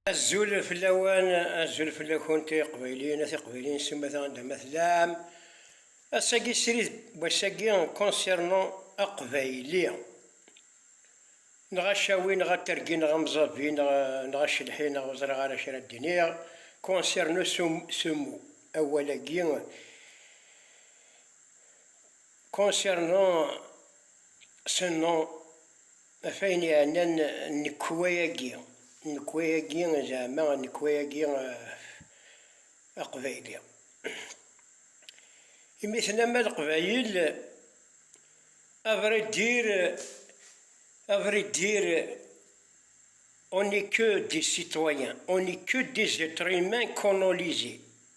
Azul fell-awen, azul fell-akent ay iqbayliyen, a tiqbayliyin s umata anda ma tellam. Ass-agi srid n wass-agi concernant aqbayli. Neɣ acawi neɣ atergi neɣ amẓavi neɣ neɣ acelḥi neɣ ur ẓriɣ ara acu ara d-iniɣ concernant ce ce mot, awal-agi, concernant ce nom. Ɣef ayen iɛennan nnekwa-agi, nnekwa-agi zeɛma nnekwa-agi aqbayli, imi tenna-ma leqbayel avraidir, avraidir on est que des citoyens, on est que des etres humains qu'on ont lisés.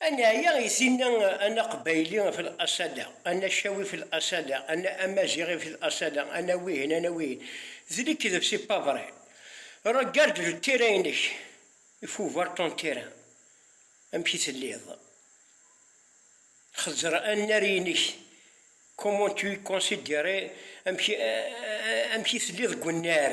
A neɛya i tinna a naqbayli fi laṣala, a nacawi fi laṣala, a na amaziɣi fi laṣala, a na wihin, a na wihin. D lekdeb c'est pas vrai. Regarde le terrain-inek, il faut voir ton terrain, amek i telliḍ. Xezzer annar-inek, comment tu es considéré, amek i telliḍ deg unnar.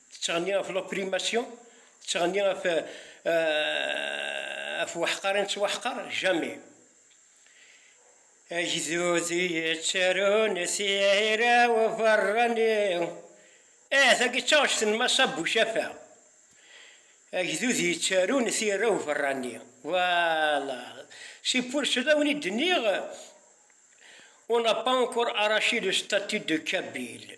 Tettɣenni ɣef l'opprimasyon, tettɣenni ɣef ɣef weḥqar i nettwaḥqar, jamais. Agdud i yettarun tira uberrani, eh tagi d taɣect n Mass Abou Jaffa, agdud yettarun tira uberrani, voilà, c'est pour cela wen i d-nniɣ on n'a pas encore arraché le statut de kabyle.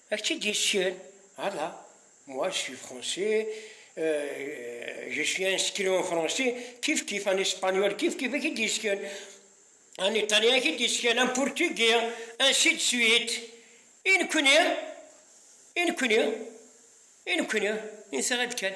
Ak tt-id yessken? Ala, moi je suis français, je suis inscrit en français, kif kif, en espagnol kif kif, ak id yessken, en italien ak id yessken, en portugais, ainsi de suite, i nekni? i nekni? i nekni? insa-ɣ-d kan.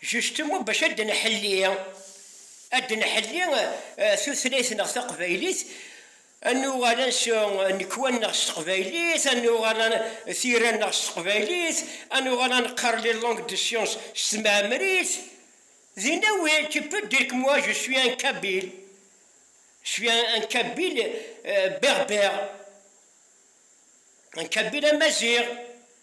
Justement bac ad nḥelli, ad nḥelli tutlayt neɣ taqbaylit, ad nuɣal ad nsu nnekwa neɣ s teqbaylit, ad nuɣal ad tira neɣ s teqbaylit, ad nuɣal ad neqqar les langues de science s tmeɛmrit, dinna oui tu peux dire que moi je suis un kabyle, je suis un un kabyle berbère, un kabyle amaziɣ.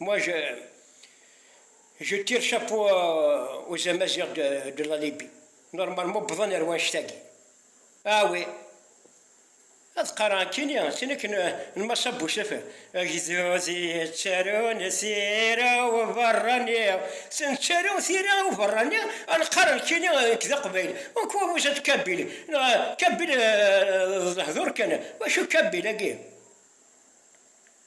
Moi je je tire chapeau euh, aux Amazirs de, de la Libye. Normalement bḍan ar wanect-agi. Ah oui. ad qqareɣ akkini sin akken lmasa n usafar agdud yettarun tira uberrani tettaru tira uberrani ad nqqar akkini nekk d aqbayli uku wuzat kabili kabili d lehdur kan wacu kabili agi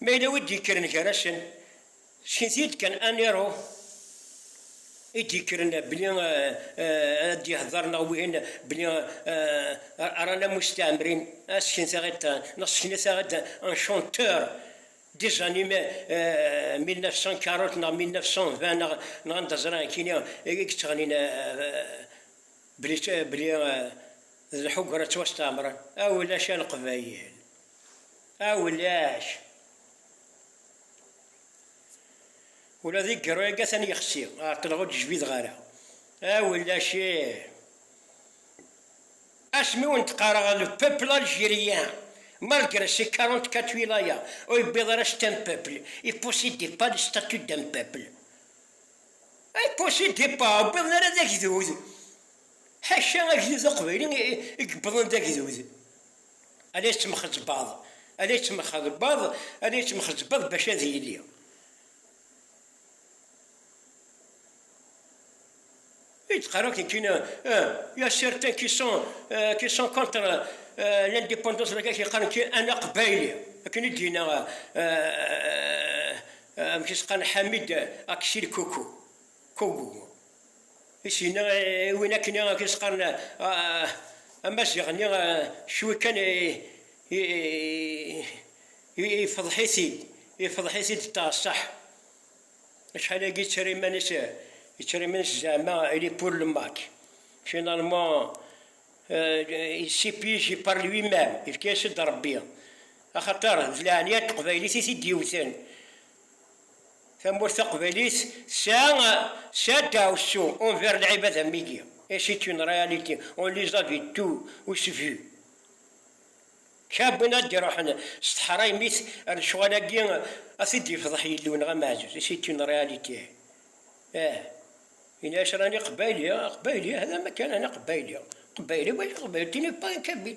Ma yella wi d-yekkren gar-asen, sken-t-id kan aniru i d-yekkren belli ad d-yehder neɣ wihin belli rran ammus tiɛemrin, ah sken-taɣ-id neɣ sken-itaɣ-id un chanteur des années 1940 neɣ 1920 neɣ anda ẓriɣ nekkini i yettɣennin belli d lḥugra ttwastɛemren, ah ulac a Leqbayel. A ulac! Ula di gerru agi atan yexsi, ɛeṭṭleɣ ur d-jbideɣ ara. A ulac ih! Asmi ur wen-d-qqareɣ le peuple algérien, malgré ses quarante-quatre wilayas, ur yewwiḍ ara c'est un peuple, il possédait pas le statut d'un peuple. Il possédait pas, ur wwiḍen ara d agdud. Ḥaca agdud aqbayli i yewwḍen d agdud. Ala yettmxeḍbaḍ, ala yettmxeḍbaḍ, ala yettmxeḍbaḍ bac ad yili. I d-qqar akken kina, euh, ya certains qui sont, euh, qui sont contre euh, l'indépendance, la qui qqaren ki ana qbayli, akken i d-yina euh, euh, amek i s-qqaren Hamid Aksir Koukou. Kobo. I s-yenna i win akken i s-qqaren Amaziɣ-nni, cwi kan ifḍeḥ-it-id, ifḍeḥ-it-id ṭṭaṣaḥ. Acḥal-agi yettara iman-is, yettara iman-is zeɛma il est pour le Mac. Finalement, il s'y piege par lui même, yefka-yas-id Rebbi. Axaṭer d leɛnaya n teqbaylit i t-id-yewwten. Tamurt taqbaylit tesɛa tesɛa ddaɛwessu envers lɛibad am wigi et c'est une réalité on les a vus tous vu kra win ad d-iruḥen s teḥraymit ar lecɣal-agi ad t-id-yefḍeḥ Yillu neɣ ameɛzuz et c'est une réalité ah yenna-as rani aqbayli aqbayli hada makan rani aqbayli aqbayli wagi aqbayli tu n'es pas un kabyle.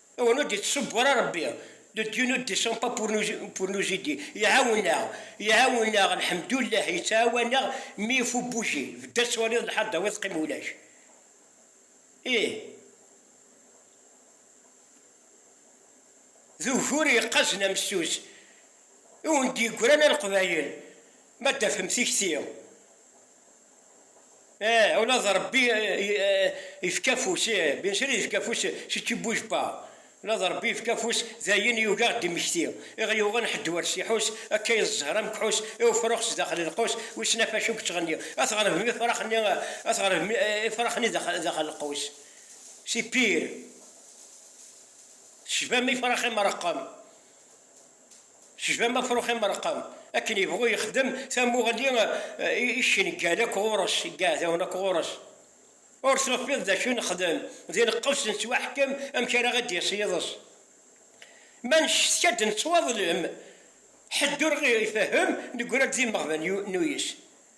Awen ur d-ittṣubbu ara Ṛebbi, le Dieu ne descend pas pour nous pour nous aider, iɛawen-aɣ, iɛawen-aɣ, lḥemdullah, yettɛawan-aɣ, mi il faut bouger, bedd ad twaliḍ lḥal dawi teqqim ulac, ih, d ugur yeqqazen amessus i wen-d-yeggran a Leqbayel, ma d-tafem tikti. Ih, ula d Ṛebbi ifka afus, ih, bien sûr ifka afus, c'est tu bouges pas, ula d Ṛebbi ifka afus, d ayen yugi a ɣ-d-immekti, i ɣ-yuɣen ḥedd ur s-iḥus, akka i d zzher amekḥus, i ufrux sdaxel lqus, wissen ɣef acu yettɣenni, a tɣelbem ifrax-nni, a tɣelbem ifrax-nni daxel lqus, c'est pire, tecbam ifrax imeṛeqqem. Tejbam afrux imereqqem, akken yebɣu yexdem tamuɣli i cengal akk ɣur-s, i yiɛdawen akk ɣur-s. Ur tufiḍ d acu nexdem, d ineqqes nettwaḥkem amek ara ɣ-id-yas yiḍes. Ma neccetka-d nettwaḍlem, ḥedd ur ɣ-ifehhem, neggra-d d imeɣban n uyes.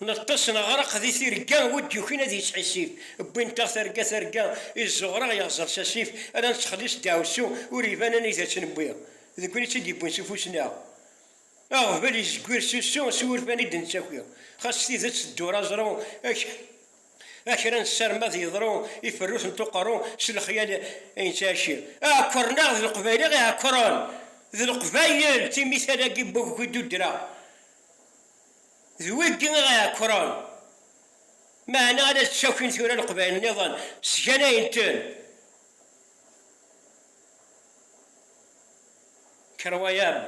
Neṭṭes neɣreq di tirga, wi d-yukin ad yeţḥissif. Wwint-aɣ targa targa, i ẓuɣṛa yeɣẓer s asif, ala neţxelliṣ deɛwessu, ur iban anidaţ newwi. Deg wayen i ţ-id-yewwin s ufus-nneɣ, aɣbel izegwir s usu, s wurfan i d-neţţaki. Xas tideţ teddur aẓru, ak. A kra nessarem ad yeḍru i ferrut n tuqerru s lexyal i nettɛici. Ɛekkren-aɣ d leqbayel i ɣ-iɛekkren d leqbayel timital-agi n waggu i d-uddreɣ d wigi i ɣ-iɛekkren meɛna ala d ttakin tura leqbayel nniḍen sganayen-ten Kerwayam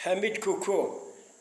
Ḥamid Kuku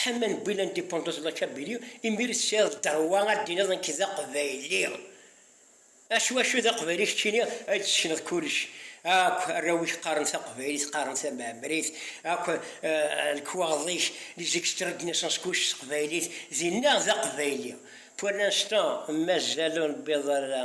Ḥama n Bwilan Dependance La Kabylie, imir tesɛiḍ dderwa ad d-tiniḍ nekk d aqbayli. A s wacu d aqbayli keččini? Ad d-tessekneḍ kullec. Akk arraw-ik qqaren taqbaylit, qqaren tamɛemrit, akk lekwaɣeḍ-ik, les extraits de naissance kullec s teqbaylit, dinna d aqbayli. Pour l'instant mazal ur newwiḍ ara.